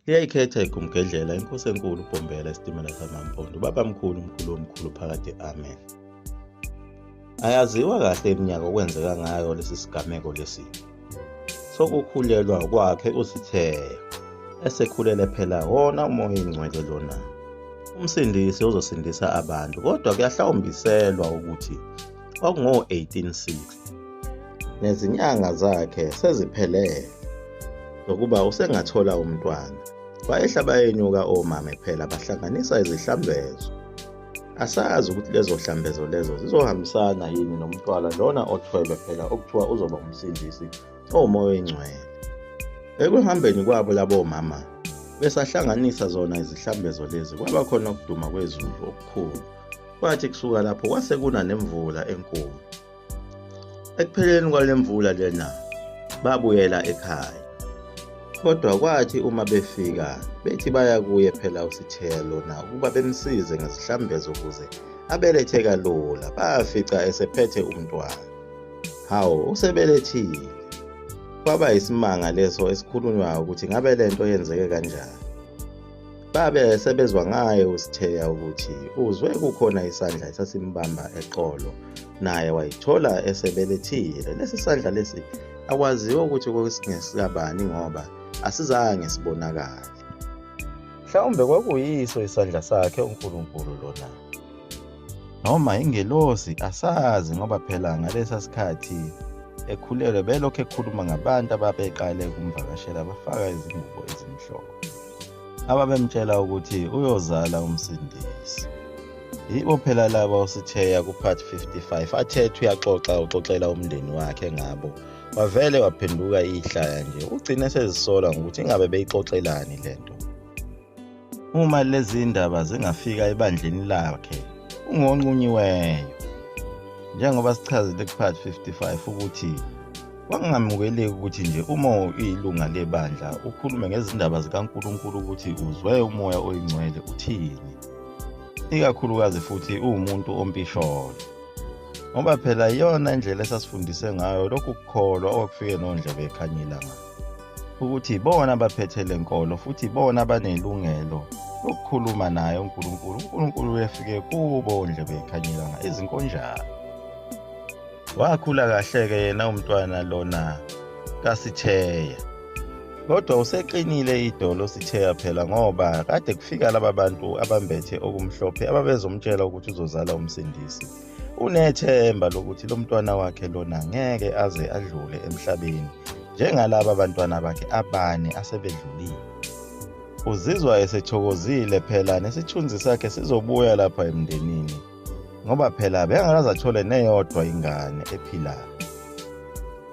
liyayikhetha igumgedlela inkosi enkulu ubhombela isitimela samampondo ubaba mkhulu umkhulu omkhulu phakade amen ayaziwa kahle iminyaka okwenzeka ngayo lesi sigameko lesi sokukhulelwa kwakhe usitheya esekhulele phela wona umoya ingcwele lona umsindisi uzosindisa abantu kodwa kuyahlawumbiselwa ukuthi kwakungo-1860 nezinyanga zakhe seziphelele zokuba usengathola umntwana wayehla bayenyuka omame phela bahlanganisa izihlambezo asazi ukuthi lezo hlambezo lezo zizohambisana yini nomntwana lona othwele phela okuthiwa uzoba umsindisi owumoya oyingcwele ekuhambeni kwabo labo mama besahlanganisa zona izihlambezo lezi kwaba khona ukuduma kwezulu okukhulu Kwathi kusuka lapho kwase kuna nemvula enkulu. Ekupheleni kwale mvula lena babuyela ekhaya. Kodwa kwathi uma befika bethi baya kuye phela usithelo na ukuba bemsize ngesihlambezo ukuze abelethe kalula bafica esephethe umntwana. Hawu usebelethile. Kwaba isimanga leso esikhulunywayo ukuthi ngabe lento yenzeke kanjani. babe sebezwa ngaye uSitheya ukuthi uzwe kukhona isandla esasimbamba eqolo naye wayithola esebelethile lesi sandla lesi akwaziwa ukuthi kwakusingesikabani ngoba asizange sibonakale mhlawumbe kwakuyiso isandla sakhe uNkulunkulu lona noma ingelosi asazi ngoba phela ngalesa sikhathi ekhulelwe belokhu ekhuluma ngabantu ababeqale ukumvakashela bafaka izingubo ezimhlophe ababemtshela ukuthi uyozala umsindisi yibo phela laba osithiya ku-part 55 athethe uyaxoxa uxoxela umndeni wakhe ngabo wavele waphenduka ihlaya nje ugcine sezisola ngokuthi ingabe beyixoxelani le nto Uma lezi ndaba zingafika ebandleni lakhe, ungonqunyiweyo. Njengoba sichazile kuPart 55 ukuthi kwangamukeleki ukuthi nje uma uyilunga lebandla ukhulume ngezindaba zikaNkulunkulu ukuthi uzwe umoya oyingcwele uthini. Ikakhulukazi futhi uwumuntu ompisholo. Ngoba phela iyona indlela esasifundise ngayo lokhu kukholwa okufike nondlebe ekhanyilanga. ukuthi ibona abaphethe le nkolo futhi ibona abanelungelo lokukhuluma naye uNkulunkulu uNkulunkulu uyefike kubo ondlebe ekhanyelanga izinkonjana wakhula kahle-ke yena umntwana lona kasitheya kodwa useqinile idolo sitheya phela ngoba kade kufika laba bantu abambethe okumhlophe ababezomtshela ukuthi uzozala umsindisi unethemba lokuthi lo mntwana wakhe lona ngeke aze adlule emhlabeni njengalaba bantwana bakhe abane asebedlulile. Uzizwa esethokozile phela nesithunzi sakhe sizobuya lapha emndenini ngoba phela bengakaze athole neyodwa ingane ephilayo.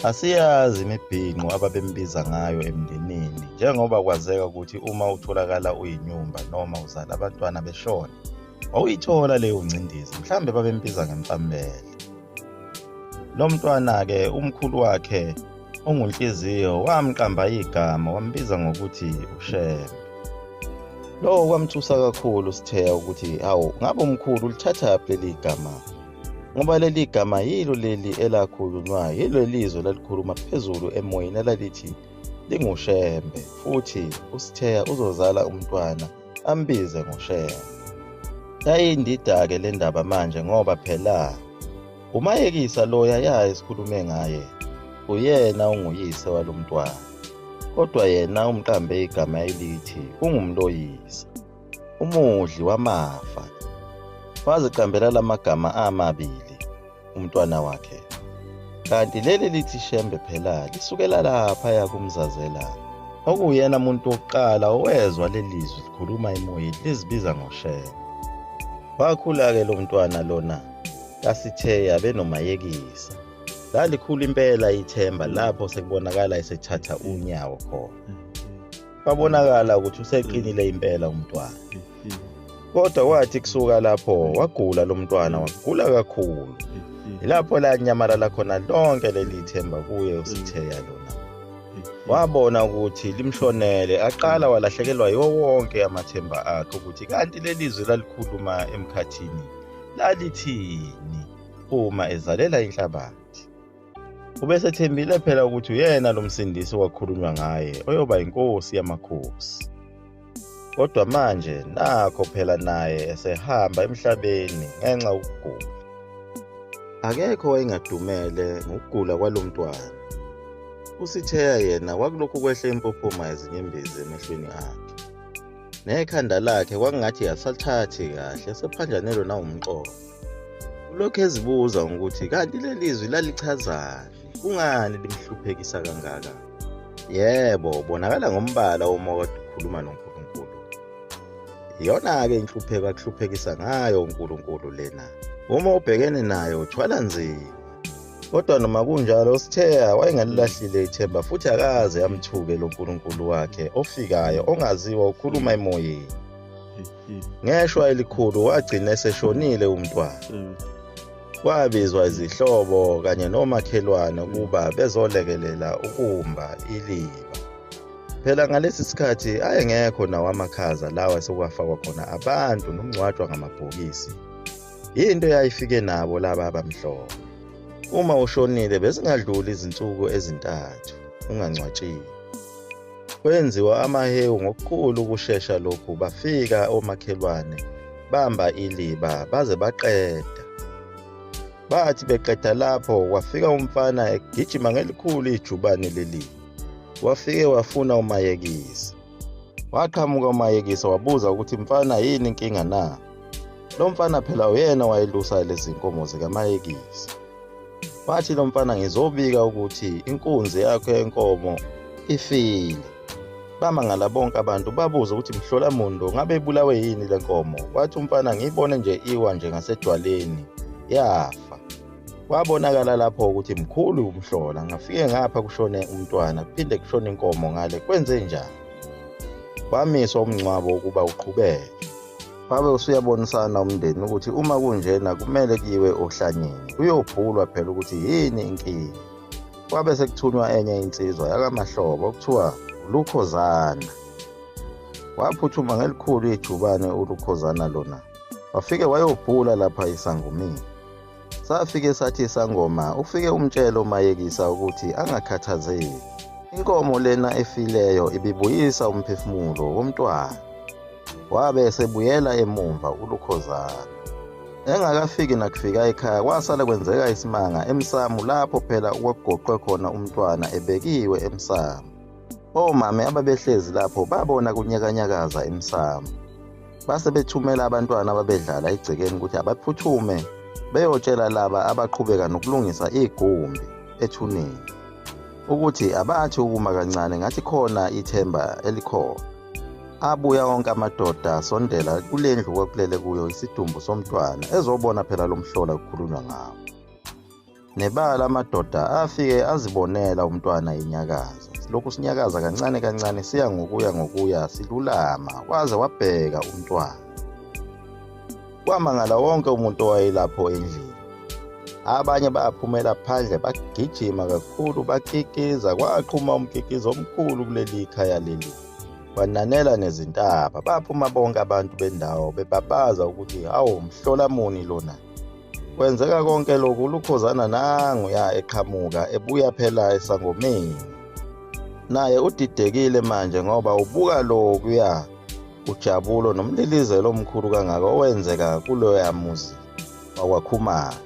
Asiyazi imibhinqo ababembiza ngayo emndenini njengoba kwazeka ukuthi uma utholakala uyinyumba noma uzala abantwana beshona. wawuyithola leyo ngcindezi mhlawumbe babembiza ngemfambele lo mntwana-ke umkhulu wakhe ongunhliziyo wamqamba igama wambiza ngokuthi ushembe lowo kwamthusa kakhulu sitheya ukuthi hawu ngabe umkhulu ulithathaphi leli gama ngoba leli gama yilo leli elakhulunywayo yilo lizwe lalikhuluma phezulu emoyeni elalithi lingushembe futhi usitheya uzozala umntwana ambize ngoShembe. Yayindida-ke le ndaba manje ngoba phela umayekisa lo yayaye sikhulume ngaye uyena unguyise walo mntwana kodwa yena umqambe igama elithi ungumloyisa umudli wamafa waziqambela la magama amabili umntwana wakhe kanti leli lithi shembe phela lisukela lapha yakumzazela okuyena muntu wokuqala owezwa lelizwi likhuluma emoyeni lizibiza ngoshembe wakhula-ke lo mntwana lona kasitheya benomayekisa lalikhulu impela ithemba lapho sekubonakala esethatha unyawo khona kwabonakala ukuthi useqinile impela umntwana kodwa kwathi kusuka lapho wagula lo mntwana wagula kakhulu yilapho lanyamalala khona lonke leli themba kuye usitheya lona wabona ukuthi limshonele aqala walahlekelwa yiwo wonke amathemba akhe ukuthi kanti leli zwi lalikhuluma emkhathini lalithini uma ezalela inhlabathi Ubesethembile phela ukuthi uyena lo msindisi okwakhulunywa ngaye oyoba yinkosi yamakhosi. kodwa manje nakho phela naye esehamba emhlabeni ngenxa ukugula akekho wayengadumele ngokugula kwalo mntwana usitheya yena kwakulokhu kwehle impophoma yezinyembezi emehlweni akhe nekhanda lakhe kwakungathi yasathathi kahle sephanjanelwe nawumqondo ulokhu ezibuza ukuthi kanti leli zwi lalichazani kungani limhluphekisa kangaka yebo bonakala ngombala uma kade ukhuluma nonkulunkulu iyona-ke inhlupheko akuhluphekisa ngayo unkulunkulu lena uma ubhekene nayo uthwala nzima kodwa noma kunjalo usitheya wayengalilahlile ithemba futhi akaze amthuke lo nkulunkulu wakhe ofikayo ongaziwa ukhuluma emoyeni ngeshwa elikhulu wagcina eseshonile umntwana kwabizwa izihlobo kanye nomakhelwane ukuba bezolekelela ukumba iliba phela ngalesi sikhathi ayengekho nawo amakhaza lawa esekwafakwa khona abantu nokungcwatshwa ngamabhokisi yinto eyayifike nabo laba abamhlophe uma ushonile bezingadluli izinsuku ezintathu ungangcwatshiwe Kwenziwa amahewu ngokukhulu ukushesha lokhu bafika omakhelwane bamba iliba baze baqeda. Bathi beqeda lapho kwafika umfana egijima ngelikhulu ijubane leli. Wafike wafuna umayekisa. Waqhamuka umayekisa wabuza ukuthi mfana yini inkinga na? Lo mfana phela uyena wayelusa lezi nkomo zikamayekisa. Wathi lo mfana ngizobika ukuthi inkunzi yakho yenkomo ifile. Bamangala bonke abantu babuza ukuthi mhlola muntu ngabe ibulawe yini le nkomo. Wathi umfana ngiyibone nje iwa nje ngasedwaleni yafa. Kwabonakala lapho ukuthi mkhulu umhlola ngafike ngapha kushone umntwana kuphinde kushone inkomo ngale kwenze njani. Kwamiswa umngcwabo ukuba uqhubeke. wabe usuyabonisana umndeni ukuthi uma kunjena kumele kiwe ohlanyeni kuyobhulwa phela ukuthi yini inkinga kwabe sekuthunywa enye insizwa yakamahlobo okuthiwa ulukhozana waphuthuma ngelikhulu ijubane ulukhozana lona wafike wayobhula lapha isangumini Safike sathi sangoma ufike umtshela umayekisa ukuthi angakhathazeki. Inkomo lena efileyo ibibuyisa umphefumulo womntwana. Wabe esebuyela emumva uLukhozana. Engakafiki nakufika ekhaya kwasale kwenzeka isimanga emsamu lapho phela okwakugoqwe khona umntwana ebekiwe emsamu. Omame ababehlezi lapho babona kunyakanyakaza emsamo. Base bethumela abantwana ababedlala egcekeni ukuthi abaphuthume beyotshela laba abaqhubeka nokulungisa igumbi ethuneni ukuthi abathi ukuma kancane ngathi khona ithemba elikhona. Abuya wonke amadoda asondela kule ndlu kwakulele kuyo isidumbu somntwana ezobona phela lo mhlola kukhulunywa ngawo. Nebala amadoda afike azibonela umntwana inyakaza. Lokhu sinyakaza kancane kancane siya ngokuya ngokuya silulama waze wabheka umntwana. Kwamangala wonke umuntu owayelapho endlini. Abanye baphumela phandle bagijima kakhulu bakikiza kwaqhuma umkikizo omkhulu kuleli khaya leli. Bananela nezintaba baphuma bonke abantu bendawo bebabaza ukuthi awu mhlola muni lona. Kwenzeka konke lokhu uLukhozana nangu ya eqhamuka ebuya phela esangomeni. Naye udidekile manje ngoba ubuka lokhu ya ujabulo nomlilizelo omkhulu kangaka owenzeka kuloya muzi wakwakhumalo.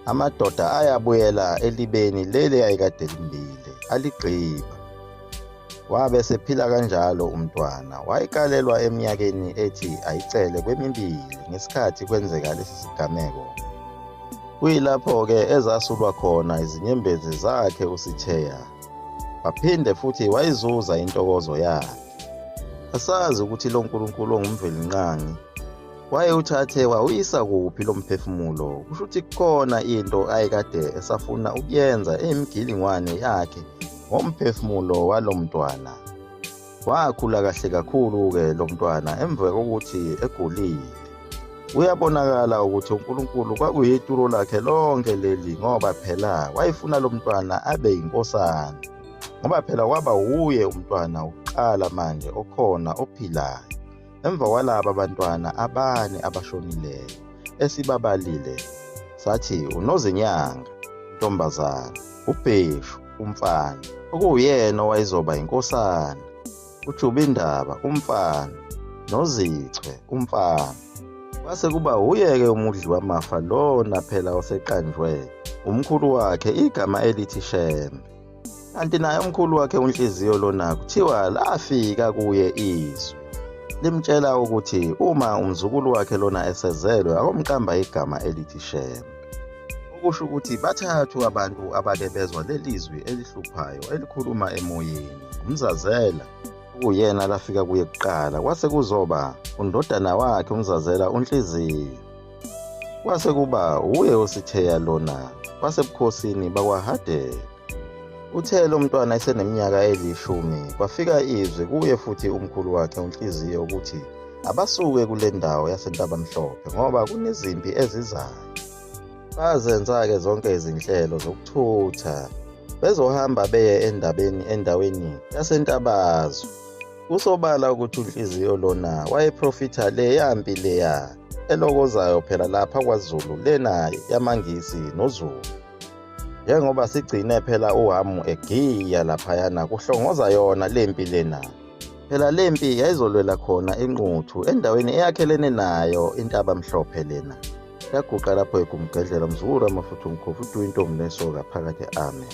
Amadoda ayabuyela elibeni leli ayikade limbile aligqiba. Wabe sephila kanjalo umntwana. Wayikalelwa eminyakeni ethi ayicele kwemibili ngesikhathi kwenzeka lesi sigameko. Kuyilapho-ke ezasulwa khona izinyembezi zakhe uSitheya. Waphinde futhi wayizuza intokozo yakhe. Asazi ukuthi lo Nkulunkulu ongumvelinqangi wayewuthathe wawuyisa kuphi lo mphefumulo kusho ukuthi kukhona into ayekade esafuna ukuyenza eyimigilingwane yakhe ngomphefumulo walo mntwana. Wakhula kahle kakhulu-ke lo mntwana emva kokuthi egulile. Kuyabonakala ukuthi uNkulunkulu kwakuyituro lakhe lonke leli ngoba phela wayefuna lo mntwana abe yinkosana. Ngoba phela waba wuye umntwana wokuqala manje okhona ophilayo. Emva kwalaba bantwana abane abashonileyo esibabalile sathi uNozinyanga intombazana, uBheshu umfana okuwuyena owayezoba yinkosana, uJubindaba umfana noZichwe umfana. Kwase kuba wuye-ke umudli wamafa lona phela oseqanjwe umkhulu wakhe igama elithi Shembe. kanti naye umkhulu wakhe unhliziyo lona kuthiwa lafika kuye izwi limtshela ukuthi uma umzukulu wakhe lona esezelwe akomqamba igama elithi shembe okusho ukuthi bathathu abantu abake bezwa leli zwi elihluphayo elikhuluma emoyeni umzazela okuyena lafika kuye kuqala kwase kuzoba undodana wakhe umzazela unhliziyo Kwase kuba wuye ositheya lona wasebukhosini bakwaHadela. Uthe lo mntwana eseneminyaka elishumi kwafika izwi kuye futhi umkhulu wakhe uNhliziyo ukuthi abasuke kule ndawo yaseNtabamhlophe ngoba kunezimpi ezizayo. Bazenza-ke zonke izinhlelo zokuthutha bezohamba beye endabeni endaweni yaseNtabazwe. Kusobala ukuthi unhliziyo lona wayeprofitha leya mpi leya elokozayo phela lapha kwaZulu lena yamaNgisi noZulu. Njengoba sigcine phela uHamu egiya laphayana kuhlongoza yona le mpi lena. Phela le mpi yayizolwela khona inquthu endaweni eyakhelene nayo intaba mhlophe lena. Yaguqa lapho egumgedlela umzukulu amafutha umkhofu uduyi intombi nesoka phakathi amen.